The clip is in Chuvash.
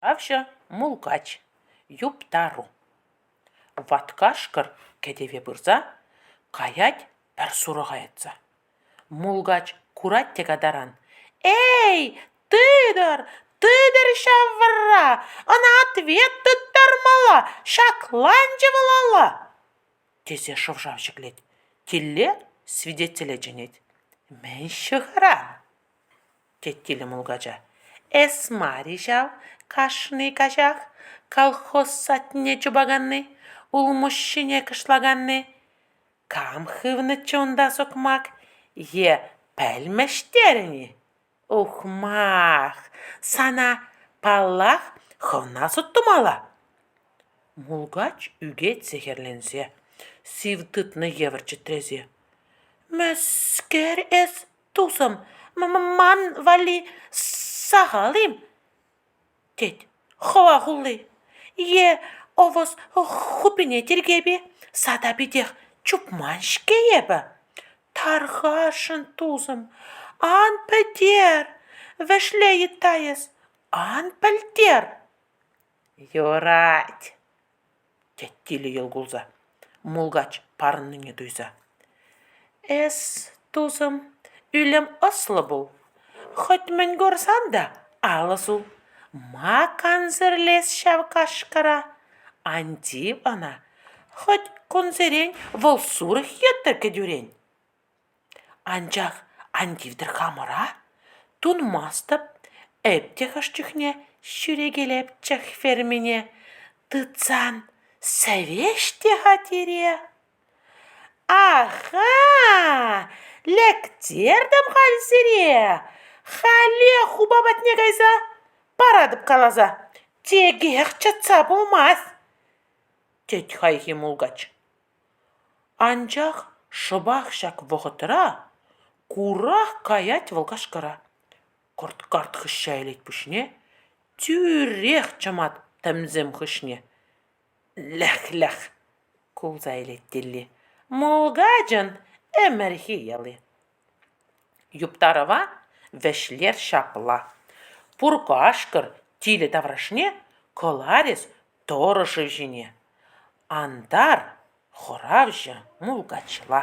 Ҫыравҫӑ мулкач, юптару. Ват кашкӑр кӗтӗве пырса каять пӗр сурӑха йӑтса. Мулкач курать те катаран: «Эй, тытӑр, тытӑр ҫав вӑрра, ӑна ответ тыттар мала, ҫакланчӗ вӑл ала!» тесе шӑв-шав ҫӗклет. Тилле свидетеле чӗнет. «Мӗн ҫыхӑра?» тет тилӗ мулкача. «Эс мар-и ҫав кашни каҫах колхоз садне чупаканни, улмуҫҫине кӑшлаканни? Кам хывнӑччӗ унта сукмак е пӗлмӗш терӗн-и? Ухмах! Сана, паллах, хӑвна суд тумалла!» Мулкач ӳкет сехӗрленсе, сив тытнӑ евӗр чӗтресе. «Мӗскер эс тусӑм, ман валли сахал-им? тет хӑва хулли. Е ӑвӑс хупине тиркеп-и? Сада питех чупман-ҫке эпӗ. Тархасшӑн, тусӑм, ан пӗлтер, вӗҫле йытта эс, ан пӗлтер. Юрать. тет тилӗ йӑл кулса, мулкач парӑннине туйса. «Эс, тусӑм, ӳлӗм ӑслӑ пул. Хӑть мӗн курсан та ал ӑсу. Ма кансӗрлес ҫав кашкӑра? Ан тив ӑна, хӑть кунсерен вӑл сурӑх йӑттӑр кӗтӳрен. Анчах ан тивтӗр хамӑра, тунмастӑп эп те хӑш чухне ҫӳрекелепчӗх фермине, тытсан сӗвеҫ те-ха тире. Аха! Лектертӗм халь сире, хале хупа патне кайса паратӑп каласа, текех чӑтса пулмасть, тет хайхи мулкач. Анчах шӑпах ҫак вӑхӑтра курах каять вӑл кашкӑра. Кӑрт-карт хыҫҫа илет пуҫне, тӳрех чӑмать тӗмсем хыҫне. Лӗх-лӗх! кулса илет Тилли. Мулкачӑн ӗмӗрхи йӑли. Юптарӑва вӗҫлер ҫапла: пур кашкӑр тилӗ таврашне кӑларӗс тӑрӑшӗ ҫине, антар хӑравҫӑ мулкачла.